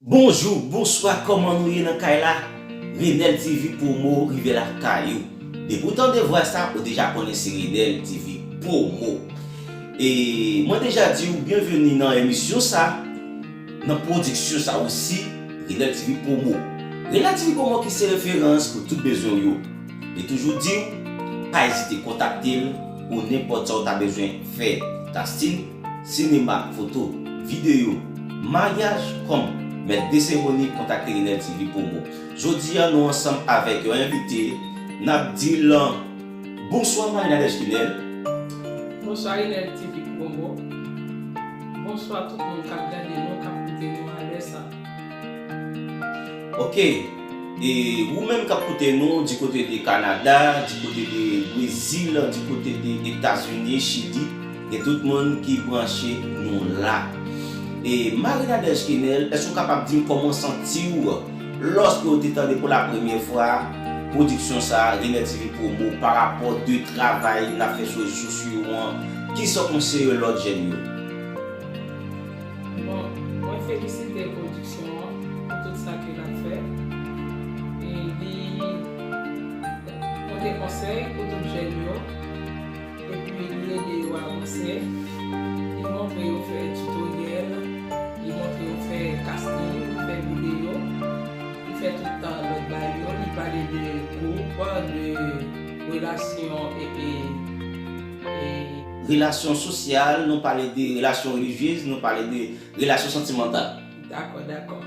Bonjou, bonswa kòman nou ye nan kay la Renel TV promo rive lakay ou Depi ou tande vwa sa ou deja konnen se Renel TV promo E mwen deja di ou byenveni nan emisyon sa Nan pwodiksyon sa osi Renel TV promo Renel TV promo ki se referans pou tout bezwen ou yo Li toujou di ou pa ezite kontakte l pou nenpòt sa ou ta bezwen fè Tastin Sinema ak foto, videyo, maryaj, kòm Mèt de seremoni kontakte Inèd TV Promo. Jodi a nou ansanm avèk yon envite, n ap di l Bonswa Marie Nadège Kinèl. Bonswa Inèd TV Promo. Bonswa tout moun k ap gade nou, k ap koute nou a lè sa. Ok e ou menm kap koute nou di kote de kanada di kote de brezil di kote de etazini chili gen tout moun ki branche nou la e Marie Nadège Kenel èske ou kapab dim kòman santiw lòske ou te tande pou la premyè fwa pwodiksyon sa Genlè TV promo pa rapò de travay nap fè sou rezo sosyo an kisa ou konseye lòt jèn yo. Bon mwen felisite production an pou tout sa ke lap fè e li pote konsèy pou tout jèn yo epi li ede yo avanse li montre yo fè tutoriel li montre yo fè casting li fè video li fè tout bagay yo li pale de groupe de relation epi Relasyon sosyal, nou pale de relasyon relijyez, nou pale de relasyon santimantal. Dakò, dakò.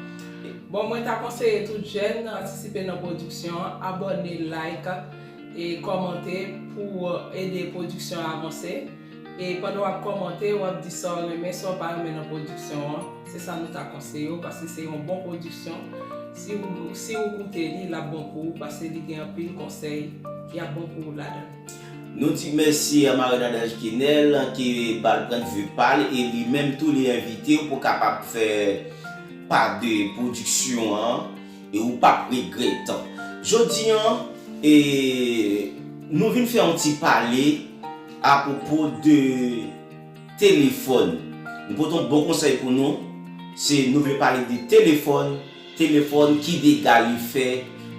Bon, mwen ta konseye tout jèn patisipe nan pwodiksyon an, abòne, like, e kòmante pou w ede pwodiksyon an avanse. E pandan w ap kòmante, w ap di sa w renmen, sa w pa renmen nan pwodiksyon an. Se sa nou ta konseye w paske se yon bon pwodiksyon. Si w, si w koute li, l ap bon pou w paske li gen anpil konsèy ki ap bon pou w ladan l. Nou di mèsi a Marie-Nadège Kinel ki bal pwend vi pal e li menm tou li envitew pou kapab fè pa 2 pwodiksyon an e ou pap regrèt. Jodi an e nou vin fè yon ti pale a pwopo de telefòn. Nou pote yon bon konsèy pou nou, se nou vle pale de telefòn. Telefòn, ki dega li fè,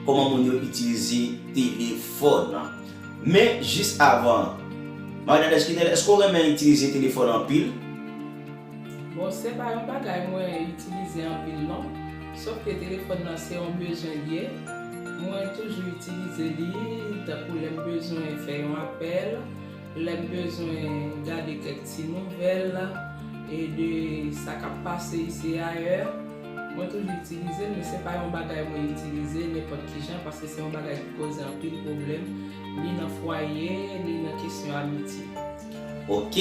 kòman moun yo itilize telefòn. Men, jis avan. Marie-Nadège Kinel, èske ou renmen itilize telefòn anpil? Bon, se pa yon bagay mwen itilize anpil non. Sof ke telefòn nan se yon bezwen li ye. Mwen toujou itilize li, tankou lè m bezwen fè yon apèl. Lè m bezwen gade kèk ti nouvèl e de sa k ap pase isi e ayè, mwen toujou itilize l men se pa yon bagay mwen itilize nenpòt ki jan paske se yon bagay ki koze anpil pwoblèm ni nan fwaye ni nan kesyon amitye. Ok.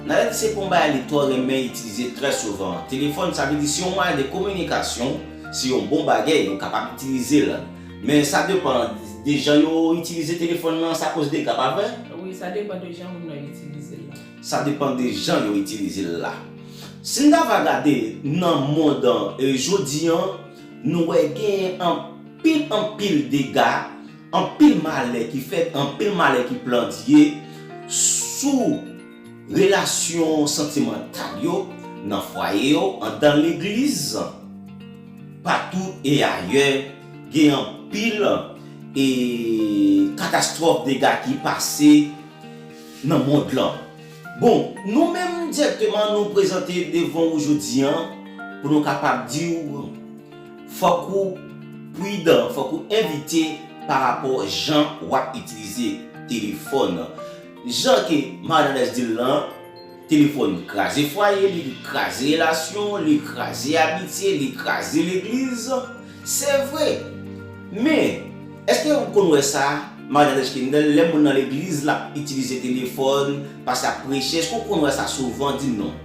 Nalèt se pa yon bagay li twò renmen itilize trè souvan. Telefòn, sa vle di si yon mwayen de kominikasyon, se yon bon bagay, ou kapab itilize l. Men sa depan de jan yo itilize telefòn lan sa koz dega pa vre? Wi sa depan de jan moun nan itilize l la. Sa depan de jan yo itilize l la. Si n ta va gade nan mond an jodi an nou wè genyen anpil anpil dega, anpil malè ki fèt, anpil malè ki plandye sou. Relasyon santimantal yo nan fwaye yo, andan legliz, patou e ayè, gen anpil e katastwòf dega ki pase nan mond lan. Bon, nou menm dirèkteman nou prezante devan ou jodi an pou nou kapab di ou fòk ou pridan, fòk ou evite parapò jan wap itilize telefòn. Jan ke Marnalez di l lan, telefòn kraze fwaye, li kraze relasyon, li kraze amitye, li kraze legliz. Se vre! Men, èske ou konn wè sa, Marnalez Kendel, lè moun nan legliz l ap itilize telefòn, pase ap preche, èske ou konn wè sa souvan? Di m non.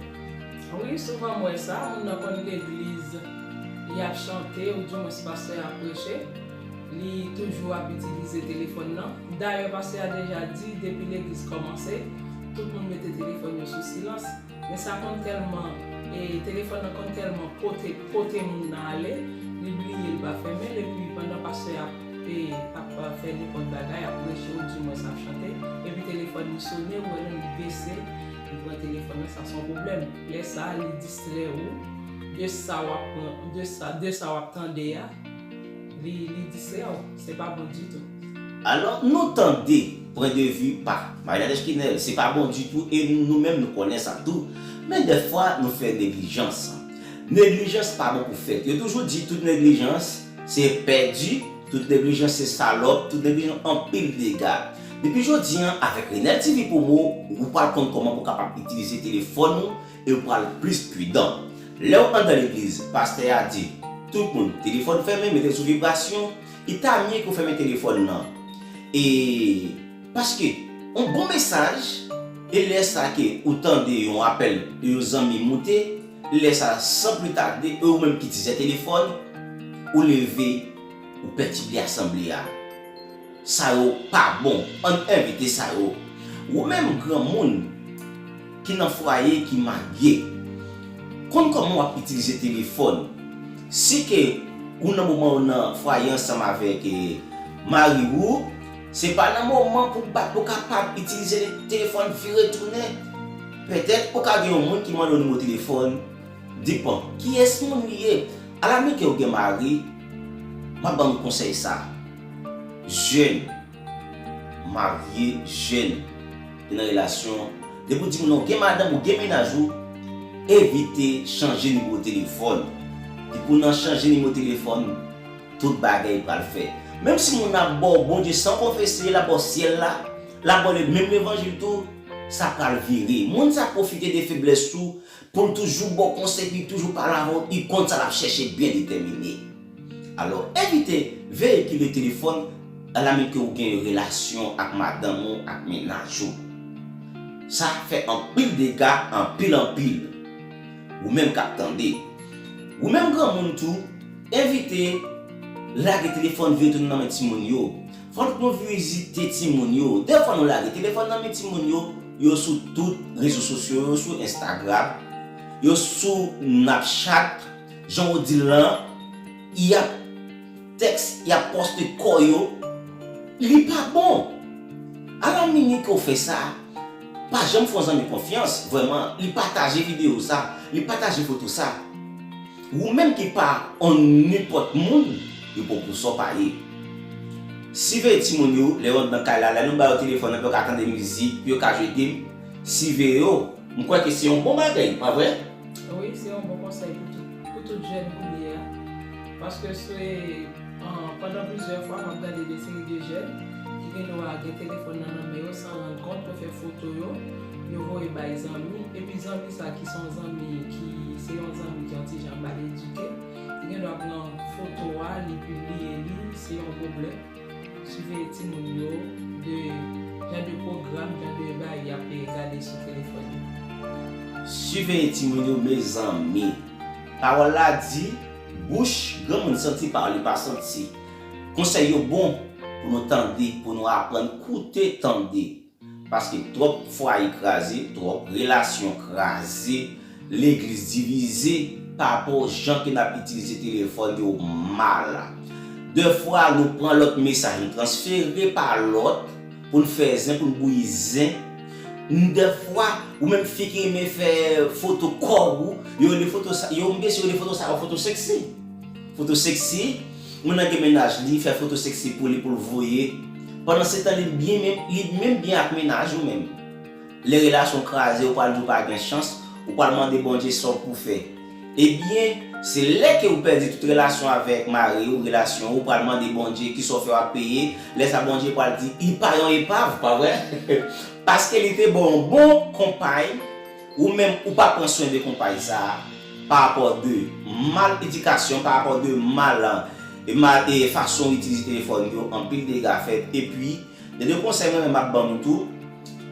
Wi, souvan m wè sa, moun nan konn legliz, li ap chante, ou dimwens pastè a ap preche. Li toujou ap itilize telefòn nan. Dayè pastè a deja di depi legliz kòmanse, tout moun mete telefòn yo sou silans. Men sa konn tèlman, telefòn nan konn tèlman pote, pote moun nan ale, li bliye li pa fèmen'l epi pandan pastè a ap fè nenpòt bagay, ap preche ou dimwens ap chante, epi telefòn li sone, ou wè non li bese, li pran telefòn nan, sa son pwoblèm. Lè sa li distrè ou de sa w'ap, de sa w'ap tande a. Li distrè w, se pa bon ditou. Alò, nou tande pwen de vi pa Maria Deschinel, se pa bon ditou e nou menm nou konnen sa tou. Men dèfwa nou fè neglijans. Neglijans pa bon pou fèt. Yo toujou di tout neglijans se pèdi, tout neglijans se salòp, tout neglijans anpil dega. Depi jodi an, avèk Renel TV Promo, ou pral konn kòman pou w kapab itilize telefòn ou, Yo pral plis pridan. Lèw andan legliz pastè a di tout moun telefòn fèmen metel sou vibrasyon li ta mye ke w fèmen telefòn nan e paske yon bon mesaj e lè sa ke ou tande yon apèl de yon zanmi moute lè sa san pli tade e ou menm ki dizè telefòn ou leve ou pètible asanble a. Sa yo pa bon. Ann envite sa yo. Ou menm granmoun ki nan fwaye ki marye, konn kòman wap itilize telefòn. Si ke ou nan moman ou nan fwaye ansanm avèk mari ou, se pa nan moman pou bat pou kapab itilize telefòn vire tounen. Pètèt ou ka gen yon moun ki mande w nimewo telefòn, di bon kiyès moun li ye. Ala mnike ou gen mari, map ban nou konsèy sa. Jèn, marye, jèn, gen nan relasyon, depi ou di moun nan ou gen madanm ou gen mennaj ou, evite chanje nimewo telefòn. Depi ou nan chanje nimewo telefòn, tout bagay pral fè. Menm si moun nan ap ba w Bondye san konfese, l ap ba w syèl la, l ap ba w menm levanjil tou, sa pral vire. Moun sa pwofite de feblès ou Poul toujou baw konsèy epi toujou pale avè w u konn sa lap chèche byen detèmine. Alò evite veye ki le telefòn ala menm ke ou gen yon relasyon ak madanm ou ak mennaj ou. Sa fè anpil dega anpil anpil. Ou menm kap tande. Ou menm granmoun tou evite lage telefòn veye tounen nan men timoun yo. Fòk nou vizite timoun yo. Dè fwa nou lage telefòn nan men timoun yo, yo sou tout rezo sosyo yo sou Instagram, yo sou Napchat, jan ou di l lan, y ap tèks, y ap pòste kò yo. Li pa bon! Ala minwi ke w fè sa, pa janm fè yon zanmi konfyans, vrèman, li pataje videyo sa, li pataje foto sa. Wou menm ki pa on nipot moun yo pou pou sa w pa ye. Siveye timoun yo lè yo ant nan kay la, lè nou ba yo telefòn nan pou yo ka tande mizik, pou yo ka jwe game, siveye yo, m kwè ke se yon bon bagay, pa vre? Wi, se yon bon konsèy pou tout, pou tout jèn kounye a. Paske se pandan plizyè fwa m ap gade de seri de jèn ki gen dwa gen telefòn nan nan men yo san rann kont, yo fè foto yo, yo voye bay zanmi, epi zanmi sa ki son zanmi ki se yon zanmi ki yon ti jan mal edike, li gen dwa pran foto a li pibliye li, se yon pwoblèm, siveye timoun yo de jan de pwogram, jan de bagay yap gade sou telefòn yo. Siveye timoun yo mezanmi. Pawòl la di, bouch granmoun santi pa li pa santi. Konsèy yo bon pou nou tande, pou nou aprann koute tande. Paske twòp fwaye kraze, twòp relasyon kraze, legliz divize, papò jan ke nap itilize telefòn yo mal. Dèfwa nou pran lòt mesaj nou transfere pa lòt pou n fè zen, pou n bouyi zen. Dèfwa ou menm fi ki renmen fè foto kò ou, yo rele foto sa, yo menm mesye yo rele foto sa yo foto seksi. Foto sexy, Moun nan gen mennaj li fè foto sexy pou li poul voye Pandan se tan li byen menm li menm byen ak mennaj ou menm lè relasyon kraze ou pral di ou pa gen chans ou pral mande Bondye sa ou pou fè ebyen se lè ke ou pèdi tout relasyon avèk mari ou relasyon ou pral mande Bondye kisa ou fè wap peye lè sa Bondye pral di li pa yon epav pa vre paske li te baw yon bon konpay Ou menm ou pa pran swen de konpay sa a parapò de mal edikasyon, parapò de mal fason ou itilize telefòn yo anpil dega fèt epi gen de konsèy mwen menm map ban nou tou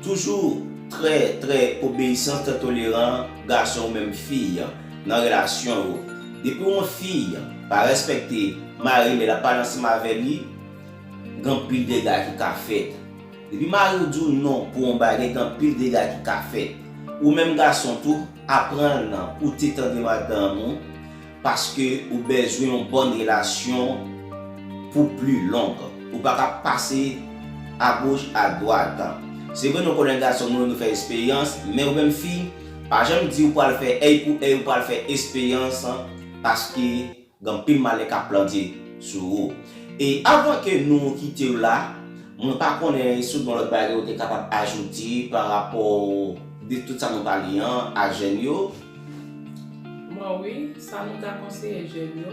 toujou trè trè obeyisan trè toleran gason ou menm fi nan relasyon ou depi yon fi pa respekte mari lè lap pale ansanm avè li gen anpil dega ki ka fèt. Depi mariw diw non pou on bagay gen anpil dega ki ka fèt. Ou menm gason tou, apranl nan koute tande madanm ou paske ou bezwen yon bòn relasyon pou pli long. Ou paka ap pase a goch a dwat. Se vre nou konnen gason nou yo nou fè esperyans, men ou menm fi, pa janm di ou pwal fè èy pou èy ou pwal fè esperyans paske Gen anpil malè kap plante sou ou. E avan ke nou kitew la, mwen pa konnen si w gen yon lòt bagay ou te kapab ajoute pa rapò de tout sa nou pale an a jèn yo. Bon wi, sa nou ta konseye jèn yo,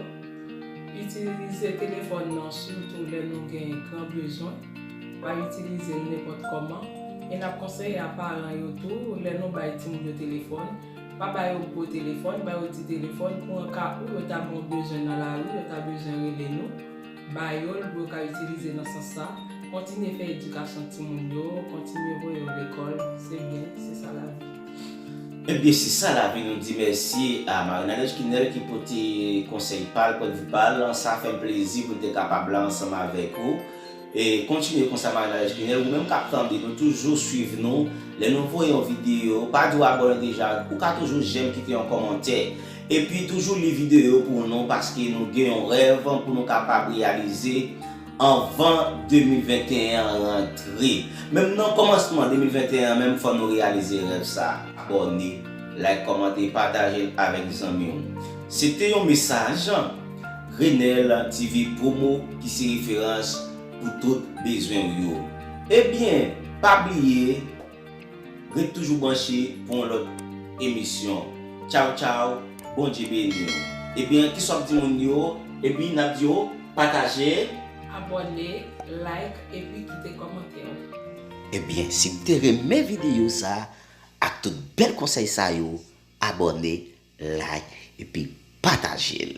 itilize telefòn nan sitou lè nou gen gran bezwen, pa itilize l nenpòt kòman, e nap konseye a paran yo tou lè nou bay timoun yo telefòn, Pa ba yo gwo telefòn, ba yo ti telefòn pou an ka ou yo ta gen yon bezwen nan lari, yo ta bezwen rele nou, ba yo l pou yo ka itilize nan sans sa. Kontinye fè edikasyon timoun yo, kontinye voye yo lekòl, se byen, se sa lavi. Ebyen se sa lavi nou di mèsi a Marinade Esquinel ki pote konsèy pal, pwendvi pal, sa fèm plezi pou m te kapab la ansanm avèk ou. Kontinye konsa manaj Ginel ou menm kap tande nou toujou swiv nou lè nou voye yon video pa diw abòne deja ou ka toujou jèm kite yon kòmantè epi toujou li video pou nou paske nou gen yon rèv pou nou kapab reyalize anvan 2021 an rantre menm nan kòmansman 2021 an menm fò nou reyalize rèv sa abòne like kòmante patajel avèk zanmiw se te yon mesaj. Renel TV promo ki se referans pou tout bezwen ou yo. Ebyen pa bliye ret toujou branche pou yon lòt emisyon. Tchaw tchaw Bondye beni w. Ebyen kisa wap di moun yo epi nap di yo pataje. Abòne, like epi kite kòmantè w. Ebyen si w te renmen videyo sa ak tout bèl konsèy sa yo abòne, Like epi pataje l.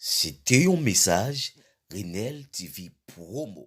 Se te yon mesaj Renel TV promo.